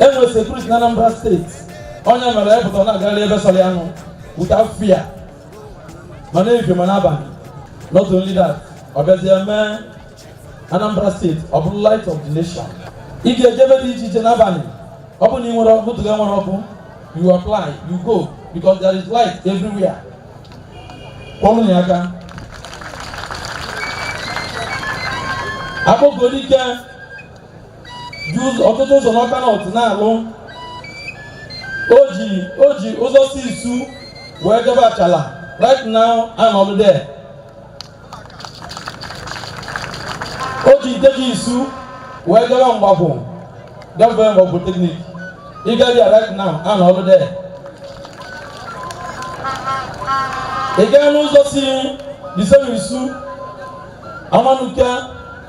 e nwere sekuriti na Anambra steeti onye mere ya pụta na-agagharị ebe sọrọ ya nụ without fear ma n'ife ma n'abalị not only that ọ bịazie mee Anambra steeti ọ bụrụ light of the nation ị ga-eje ebe dị iche iche n'abalị ọ bụrụ na ị nwere ọkụ tụga nwere ọkụ you apply you go because there is light everywhere kụọrọ ya aka Akpokuedike ji ụzọ- ọtụtụ ụzọ n'Ọka north ọ na-alụ o ji o ji ụzọ si isu wee jebe Achalla right now a nọ n'ọlụ there o ji nke si isu wee jebe Mgbakwu gafee ebe polytechnic ị gaa ebe a right now a nọ n'ọlụ there ị gaa n'ụzọ si isem isu amanuke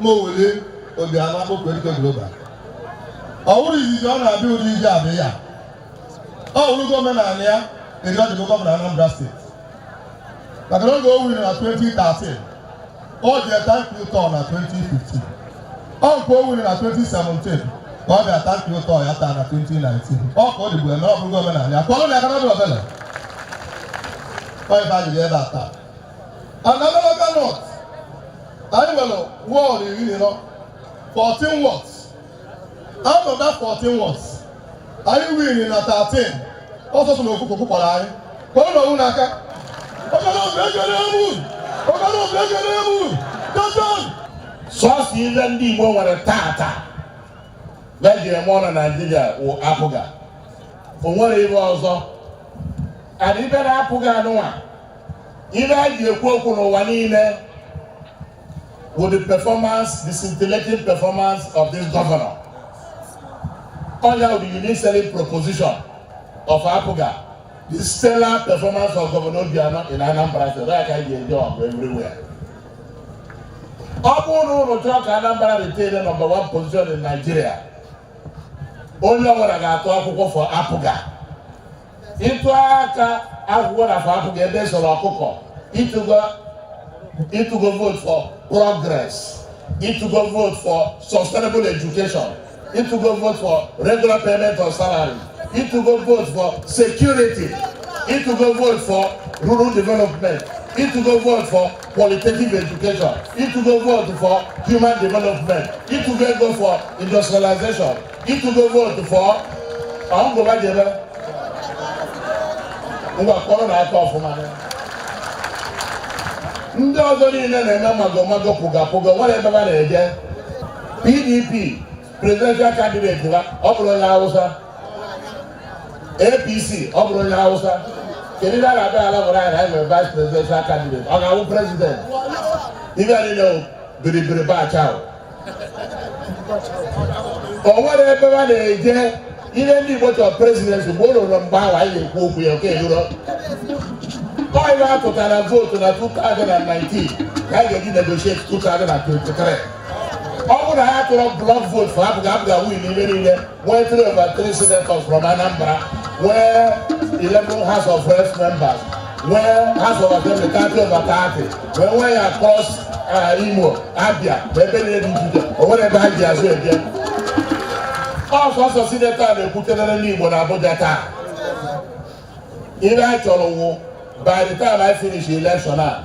ma Willie Obiano Akpokuedike global ọ wụrọ izizi ọ na-abịa ụdị ije a abịa ọ wụrụgo omenala ya eri ọ dịbụ gọvanọ Anambra steeti maka na oge o winiri na 2013 o je thank you tour na 2015 ọ nke o winiri na 2017 ka ọ bịa thank you tour ya taa na 2019 ọ ka ọ dịbụ eme ọ bụrụgo omenala ya kụọrọ ya aka na ọ dịrọ obele ọ ebe a jiri ebe a taa na n'Ọka north anyị nwere wọọdụ iri na ịnọ 14 wards out of that 14 wards anyị win na 13 ọ sọsọ n'ofu ka ọ kwara anyị kụọrọ onwe unu aka ọkara obi ekere emu ọkara obi ekere emu dozen sọsọ ihe ndị igbo nwere tata eji eme ọnụ na naijiria wụ APGA o nwere ihe ọzọ adịbe na APGA a nụnwa Ihe e ji ekwu okwu n'ụwa niile bụ the performance, the scintillating performance of this governor. Onya bụ the unique selling proposition of APGA, the stellar performance of Governor Obiano in Anambra State. That can be enjoyed everywhere. Ọ bụrụ na unu chọọ ka Anambra retain the number one position in Nigeria, onye ọbụla ga-atụ akwụkwọ for APGA. ị tụa akwụkwọ for APGA ebe e sere ọkụkọ ị tụgo ị tụgo vote for progress ị tụgo vote for sustainable education ị tụgo vote for regular payment of salary ị tụgo vote for security ị tụgo vote for rural development ị tụgo vote for qualitative education ị tụgo vote for human development ị tụgo vote for industrialization ị tụgo vootu for ma ngụba jebe ngwa kpọrọ na aka ọfụma ndị ọzọ niile na-eme magomago pụgapụga nwere ebe ha na-eje pdp presidential candidate ha ọ bụrụ onye hausa apc ọ bụrụ onye hausa kedu ihe a ga-abịa na-agwara anyị na anyị nwere vice presidential candidate ọ ga-awụ president ive niile biribiri bacha o nwere ebe ha na-eje ihe ndị Igbo chọrọ president mgbe o ruru mgbe ahụ anyị na-ekwu okwu ya oge eruro ọ ive a tụtara vootu na 2019 ka anyị ga-eji negotiate 2023 ọ bụrụ na ha tụrụ block vootu for APGA APGA win ihe niile nwee three over three senators from Anambra, nwee 11 House of Reps members, nwee House of Assembly 30 over 30, nwee ya across uh, Imo, Abia, ebe niile dị iche iche, o nwere ebe ha ji azụ eje. Ọ sọsọ sinetọ na-ekwutere ndị Igbo na Abuja taa. Ihe a chọrọ wụ by the time I finish election a,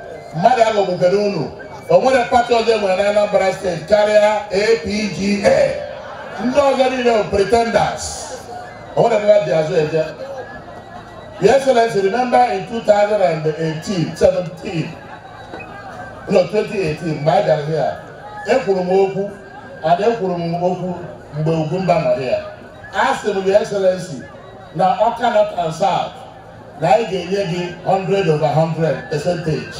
mmadụ aghọgbukwala unu o nwere pati ọzọ e nwere na Anambra steeti karịa APGA ndị ọzọ niile bụ pretenders o nwere ebe ha ji azụ eje Your Excellency, remember in 2018, 17, no 2018 mgbe a gara here ekwuru m okwu and ekwuru m okwu mgbe Ugwumba nọ here a sị m Your Excellency na Ọka North and South na anyị ga-enye gị 100 over 100 percentage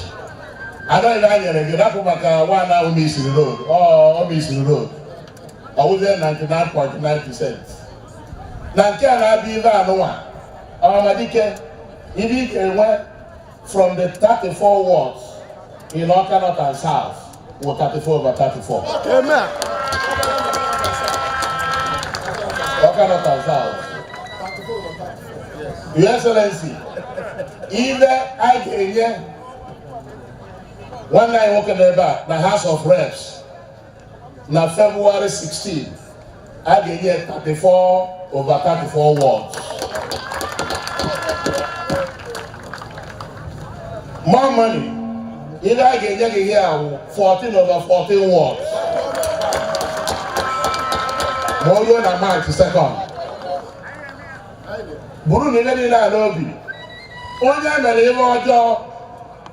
anyị na-enyere gị rapụ maka nwaanyị ahụ misiri road ọ misiri road ọ wụzie 99.9 percent na nke a na-abịa ive anụnwa Ọhamadike ive ị ga-enwe from the 34 wards in Ọka North and South wụ 34 over 34 ọka north and south your excellency ive anyị ga-enye nwanne anyị nwoke n'ebe a na house of reps na february 16 a ga-enye 34 over 34 wards more money ihe a ga-enye gị ihe ahụ 14 over 14 wards ma o ruo na march 2nd burunụ ihe niile a n'obi onye mere ihe ọjọọ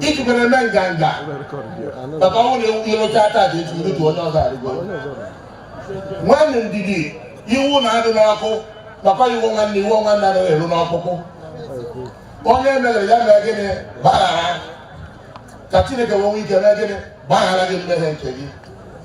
iji mere eme nganga maka ọ na-ewu ihe oche ata aja eji ndutu onye ọzọ arịgo nwanne ndidi iwe na-adị n'ọkụ maka iwe nwanne iwe nwanne anaghị eru n'ọkpụkpụ onye mere ya mee gịnị gbaghara ka chineke wee nwee ike mee gịnị gbaghara gị mmehie nke gị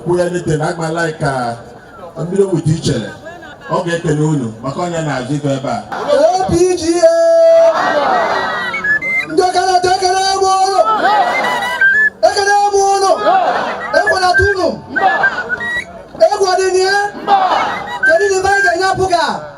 kwuo ya nite na agbala ka mmiri ogbuji ichere ọ ga-ekele unu maka ọ ya na-achị ife ebe a APGA ndị Awka North ekele m ụnụ ekele m ụnụ ekwenata ụnụ egwu ọdịnihe kedu na ife anyị ga-enye APGA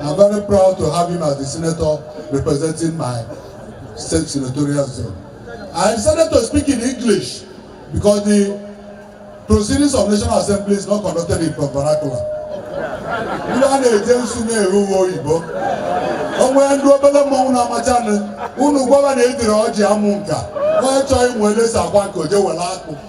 I'm very proud to have him as the senator representing my state senatorial zone. I decided to speak in English because the proceedings of National Assembly is not conducted in vernacular. Ndị a na-eje nsu na-eru uwe oyibo. O nwee ndị obere mmọnwụ na-amachanụ, unu gwa fa na ejirọ ọjị amụ nka. Onye chọọ ịmụ ele e si akwa nka o je were akpụ.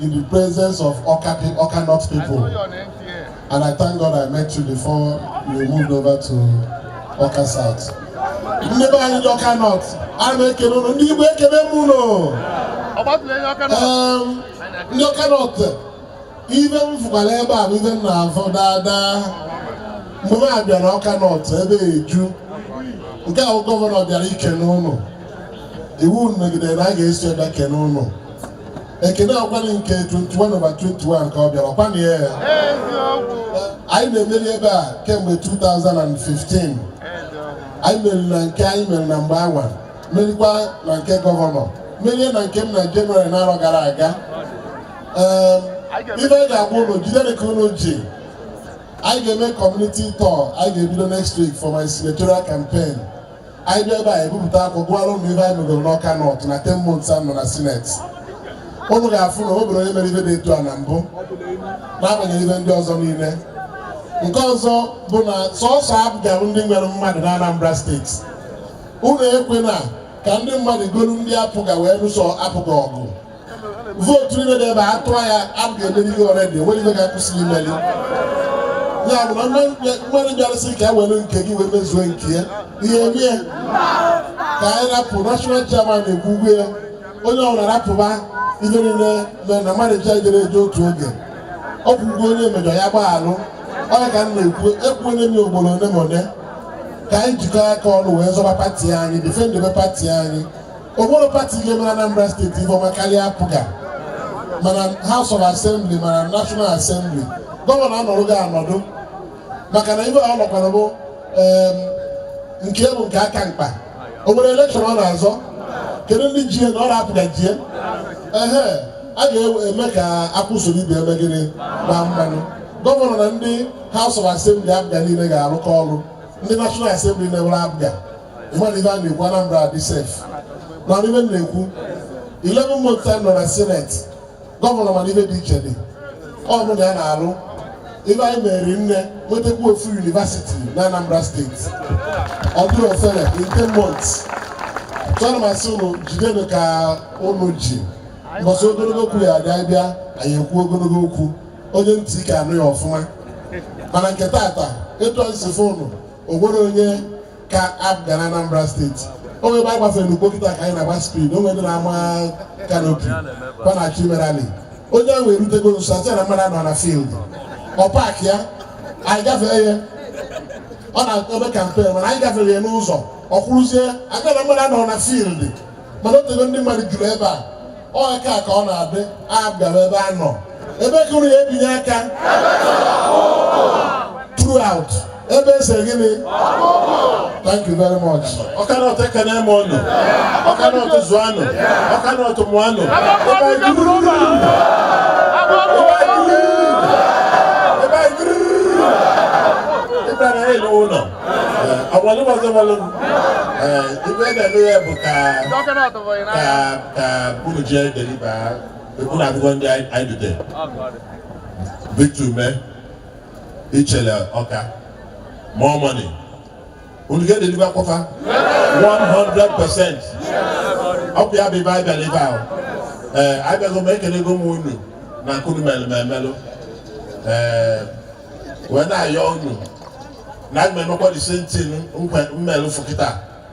in the presence of Awka, Awka North people. And I thank God I met you before you moved over to Awka South. Ndị be anyị Awka North, a na-ekele ụnụ, ndị igwe ekele m ụnụ. Ndị Awka North, ife m fụkwara ebe a bụ ife m na-afụ daadaa. Mgbe m bịara Awka North ebe eju, nke ahụ gọvanọ bịara ikene ụnụ. Iwu megidere na a ga-esi ebe kene ụnụ. ekene ọ kwanụ nke 21 over 21 ka ọ bịara ọ kwanụ ya ya anyị na-emeri ebe a kemgbe 2015 anyị meriri na nke anyị mere na mgbe anwa merikwa na nke gọvanọ merie na nke m na jenụwarị n'arọ gara aga ee ife anyị ga-agwa ụnụ jidenụ ka ụnụ ji anyị ga-eme community tour anyị ga-ebido next week for my senatorial campaign anyị bịa ebe a ebupụta akwụkwọ gụọrọ ụnụ ife anyị megoro n'Awka North na ten months a nọ na Senate ụnụ ga-afụ na o nwerọ onye mere ife dị etu a na mbụ n'agbanyeghị ife ndị ọzọ niile nke ọzọ bụ na sọsọ APGA bụ ndị nwere mmadụ na Anambra steeti ụnụ ekwena ka ndị mmadụ golu ndị APGA wee lụso APGA ọgụ vootu niile dị ebe a tụọ ya APGA emerigo already o nwerọ ife ga-akwụsị gị imeli ya bụ na mmadụ bịara sị ka e were nke gị wee mezuo nke ya ihe mie ka anyị rapụ national chairman ekwugo ya onye ọbụla rapụba ihe niile mee na mmadụ ncha jere eje otu oge o kwugo onye mejọ ya gbaghalụ ọ ya ka m na-ekwu ekwuole m ugboro ole ma ole ka anyị jikọọ aka ọnụ wee zọba pati anyị defendebe pati anyị o nwerọ pati ga-emere Anambra steeti ife ọma karịa APGA ma na House of Assembly ma na National Assembly gọvanọ anọrụgo anọdụ maka na ife ọ nọkwara bụ nke bụ nke ka mkpa o nwerọ elekshọn ọ na-azọ kedu ndị ji na ọ na APGA jie ehe a ga-eme ka akwụ soro ibe ya mee gịnị gbaa mmanụ gọvanọ na ndị House of Assembly APGA niile ga-arụkọ ọrụ ndị National Assembly na-ewere APGA ị ma na ife a na-ekwu Anambra adị sef na ife m na-ekwu 11 months time nọ na seneti gọvanọ mana ife dị iche dị ọ bụ na ya na-alụ ife anyị mere nne nwetakwa ofu yunivasiti na Anambra steeti ọ dịrọ ofele in 10 months chọrọ m asị ụnụ jidenu ka ụnụ ji mbọsị ogologo okwu ya abịa abịa anyị ekwu ogologo okwu onye ntị ike anụ ya ọfụma mana nke tata etu anyị si fụ ụnụ o nwere onye ka APGA na Anambra steeti o nwere ebe a gbafere n'ụgbọ kịta ka anyị na-agba speed o nwere ndị na-ama kanopi kwa na-achọ ime rally onye ahụ erutego nso a sị na mmadụ anọ na field ọ paakịa anyị gafee ya ọ na-eme kampen mana anyị gafere ya n'ụzọ ọ kwụrụzie maka na mmadụ anọ na field mana o tego ndị mmadụ juru ebe a Onye ka ka ọ na-adị APGA ebe a nọ ebe kụrụ ya ebinye aka throughout ebe e se gịnị thank you very much Ọka North ekene m ụnụ Ọka North zụọ nụ Ọka North mụọ nụ Agbalị ọzọ gbalụ ife na-eme ya bụ ka ka unu jee deliba unu akwụkwọ ndị anyị dute Victor Umeh Ichele Ọka more money unu ga-edeliba kwa fa 100 percent ọ bụ ya bụ ife anyị bịara ebe ahụ ee abịago m ekelego m unu na nke unu melụ m ee wee na-ayọ unu na aga m emekwa the same thing m melụ fụ kịta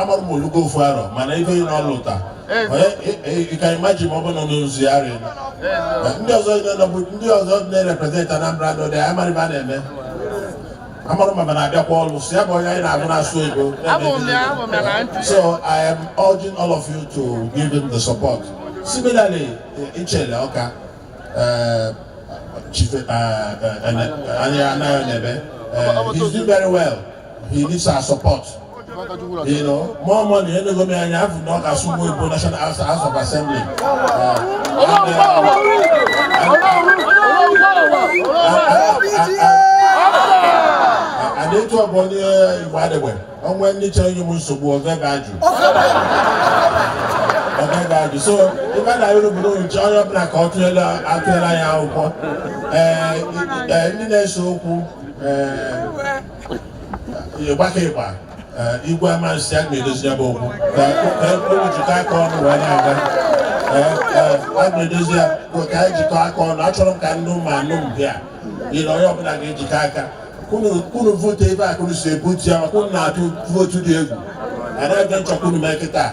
amarọ m o lugo ofu arọ mana ife ọ na-alụta you can imagine ma ọ bụ nọ n'ozugharị ndị ọzọ nọbụ ndị ọzọ na-ereprezent Anambra nọ dị amarọ ife a na-eme amarọ ma na-abịakwa ọrụ si ya bụ onye anyị na-agụ na-asụ Igbo so I am urging all of you to give him the support similarly Ichele Ọka Chief Anayo Nnebe he's doing very well he needs our support. You know, more money, any go me and have no Kasumu Igbo National House, House of Assembly. Uh, and etu ọ bụ onye Igbo adịgbe ọnwa ndị chọrọ inye m nsogbu oge ga-ajụ oge ga-ajụ so ife m na-ayọ unu bụ na anyị chọọ onye ọbụla ka ọ tụela atụela ya akwụkwọ ee ndị na-ese okwu ee ịgbaka ịgba igwe Amansea a ga-edozi ya bụ okwu ka e kwuru jikọ aka ọnụ wee na-aga a ga-edozi ya ka anyị jikọ aka ọnụ achọrọ m ka ndị ụmụ Anambra niile onye ọbụla ga-ejikọ aka ka unu vootu ebe a ka unu si ebutu ya maka unu na-atụ vootu dị egwu anaghị m chọ ka unu mee kịta